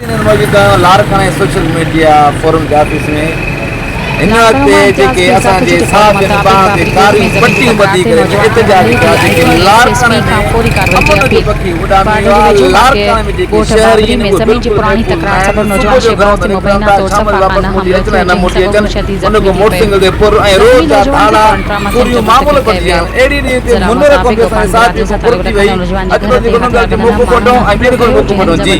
انهن موجوده لاڙڪاڻي سوشل ميڊيا فورم جي آفيس ۾ هن هڪ تي جيڪي اسان جي صحافين ٻانهن تي ڪاريون پٽيون ٻڌي ڪري جو احتجاج ڪيا جيڪي لاڙڪاڻي ۾ امن جو پکي اڏامي ويو آهي لاڙڪاڻي ۾ جيڪي شهري ان اهي بلڪل محفوظ نه آهن صبح جو گهرن مان نڪرن ٿا شام جو واپس موٽي اچن ۽ نه موٽي اچن ان کان موٽر سائيڪل تي ڦر ۽ روز جا ڌاڙا ڦريون معمول بڻجي ويا آهن اهڙي ريت تي منير ڪوفي اسان جي صحافين کان ڦر ٿي وئي اڄ ڪلهه جيڪو ننڊ اچي موقعو ڪڍون ۽ ٻين کي موقعو ڪڍون جي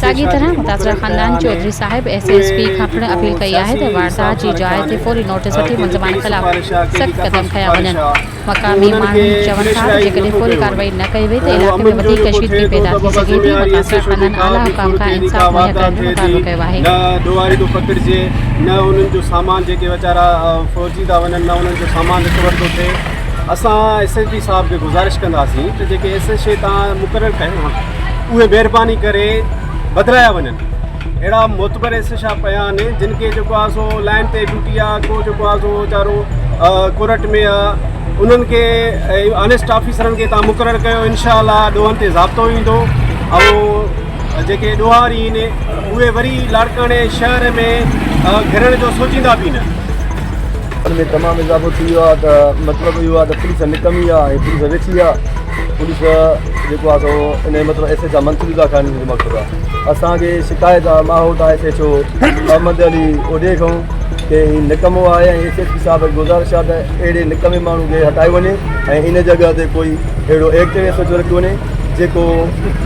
ساڳي طرح متاثره خاندان چوڌري صاحب ايس ايس پي کان پڻ اپيل ڪئي آهي ته واردات جي جاء تي فوري نوٽيس وٺي ملزمان خلاف سخت قدم کنيا وڃن، مقامي ماڻهن چون ٿا ته جيڪڏهن فوري ڪارروائي نه ڪئي وئي ته علائقي ۾ وڌيڪ ڪشيدگي پيدا ٿي سگهي ٿي، متاثره خاندان اعليٰ حڪام کان انصاف مهيا ڪرڻ جو مطالبو ڪيو آهي. اسان ايس ايس بي صاحب کي گذارش ڪنداسين ته جيڪي ايس ايس اي تان مقرر ڪيا اهي مهرباني ڪري بدلايا وڃن اهڙا معتبر ايس ايس صاحب پيا آهن جن کي جيڪو آ سو لائن تي ڊيوٽي آ ڪو جيڪو آ سو ويچارو ڪورٽ ۾ آ انهن کي آنيسٽ آفيسرن کي تان مقرر ڪيو انشاء الله ڏوهن تي ضابطو ايندو ۽ جيڪي ڏوهار اهي آهن اهي وري لاڙڪاڻي شهر ۾ گهرڻ جو سوچيندا به نه ان ۾ تمام اضافو ٿي ويو آهي ته مطلب اهو آهي ته پوليس نڪمي آهي ۽ پوليس ويٺي آهي پوليس جيڪو آهي سو ان جو مطلب S H I Mansoor Allah Khan جو مقصد آهي اسانکي شڪايت آهي ماحول آهي S H O Muhammad Ali اوڏي کان ڪي هي نڪمو آهي ۽ ايس ايچ پي صاحب گزارش آهي ته اهڙي نڪمي ماڻهو کي هٽايو وڃي ۽ ان جڳهه تي ڪوئي اهڙو ايڪٽو ايس ايچ او رکيو وڃي جيڪو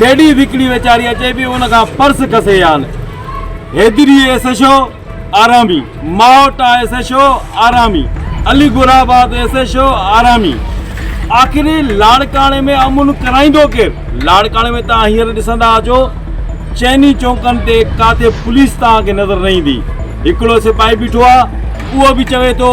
ليڊيز هڪڙي ويچاري اچي پي ان کان پرس کسي يان حيدري ايس ايش او آرامي ماهوٽا ايس ايش او آرامي Aligulabad S H O آرامي آخر لاڙڪاڻي ۾ امن ڪرائيندو ڪير لاڙڪاڻي ۾ تان هينئر ڏسندا اچو چئني چونڪن تي ڪاٿي پوليس تان کي نظر نه ايندي هڪڙو سپاهي بيٺو آ اهو به چوي ٿو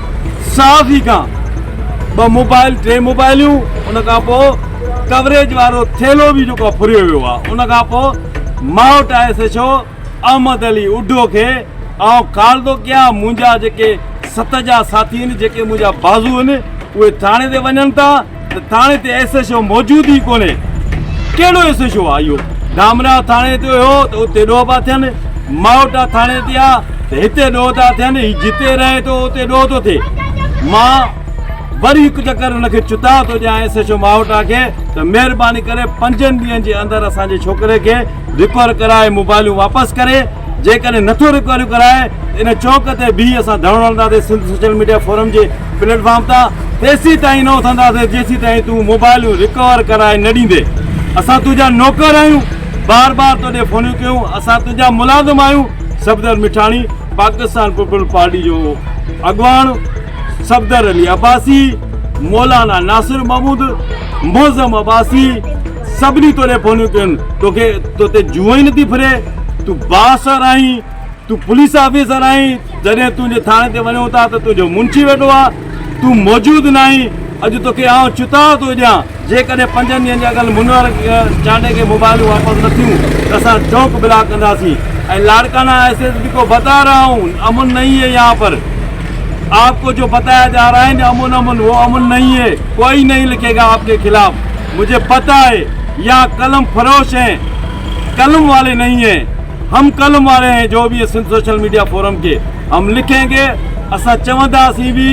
صحافي کان ٻه موبائل ٽي موبائليون ان کان پوء ڪوريج وارو ٿيلهو به جيڪو ڦريو ويو آهي ان کان پوء ماوٽ آء S H O Ahmed Ali اڍو کي آئون ڪال ٿو ڪيان منهنجا جيڪي ست جا ساٿي آهن جيڪي منهنجا بازو آهن اهي ٿاڻي تي وڃن ٿا ته ٿاڻي تي ايس ايڇ او موجود ئي ڪونهي ڪهڙو ايس ايڇ او آ اهو ڌامراهه ٿاڻي تي هو ته اتي ڏوهه پيا ٿين ماهوٽا ٿاڻي تي آ ته هتي ڏوهه ٿا ٿين هي جتي رهي ٿو اتي ڏوهه ٿو ٿئي مان وري هڪ چڪر هن کي چتاء ٿو ڏيان ايس ايڇ او ماهوٽا کي ته مهرباني ڪري پنجن ڏينهن جي اندر اسان جي ڇوڪري کي رڪور ڪرائي موبائلون واپس ڪري جيڪڏهن نٿو رڪوريون ڪرائي ته ان چوڪ تي بيهي اسان ڌرڻو هڻنداسين سنڌ سوشل ميڊيا فورم جي پليٽ فارم تان تيسين تائين نه اٿنداسين جيسين تائين تون موبائلون رڪور ڪرائي نه ڏيندين اسان تنهنجا نوڪر آهيون بار بار توڏي فونيون ڪيون اسان تنهنجا ملازم آهيون صفدر مٺاڻي پاڪستان پيپلز پارٽي جو اڳواڻ صفدر علي عباسي مولانا ناصر محمود معظم عباسي سڀني توڏي فونيون ڪيون توکي توتي جوئي نه ٿي ڦري تون بااثر آهين تون پوليس آفيسر آهين، جڏهن تنهنجي ٿاڻي تي وڃون ٿا ته تنهنجو منشي ويٺو آهي، تون موجود ناهين، اڄ توکي آئون چتاء ٿو ڏيان، جيڪڏهن پنجن ڏينهن جي اڳل منور چانڊئي کي موبائلون واپس نه ٿيون ته اسان چوڪ بلاڪ ڪنداسين ۽ لاڙڪانا ايس ايس پي ڪو بتا رها هون، امن نهين هي يهان پر، آپ ڪو جو بتايا جا رها هين امن امن وو امن نهين هي، ڪوئي نهين لکي گا آپ ڪي خلاف، مجهي پته آهي يهان قلم فروش هين، قلم والي نهين هين. هم قلم واري ۽ جو به سنڌ سوشل ميڊيا فورم کي هم لکين گي اسان چونداسين به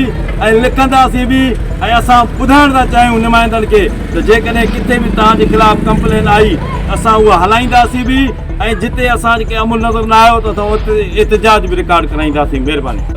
۽ لکنداسين به ۽ اسان ٻڌائڻ ٿا چاهيون نمائندن کي ته جيڪڏهن ڪٿي به توهان جي خلاف ڪمپلين آئي ته اسان اها هلائينداسين به ۽ جتي اسان کي عمل نظر نه آيو ته اسان اتي احتجاج به رڪارڊ ڪرائينداسين مهرباني.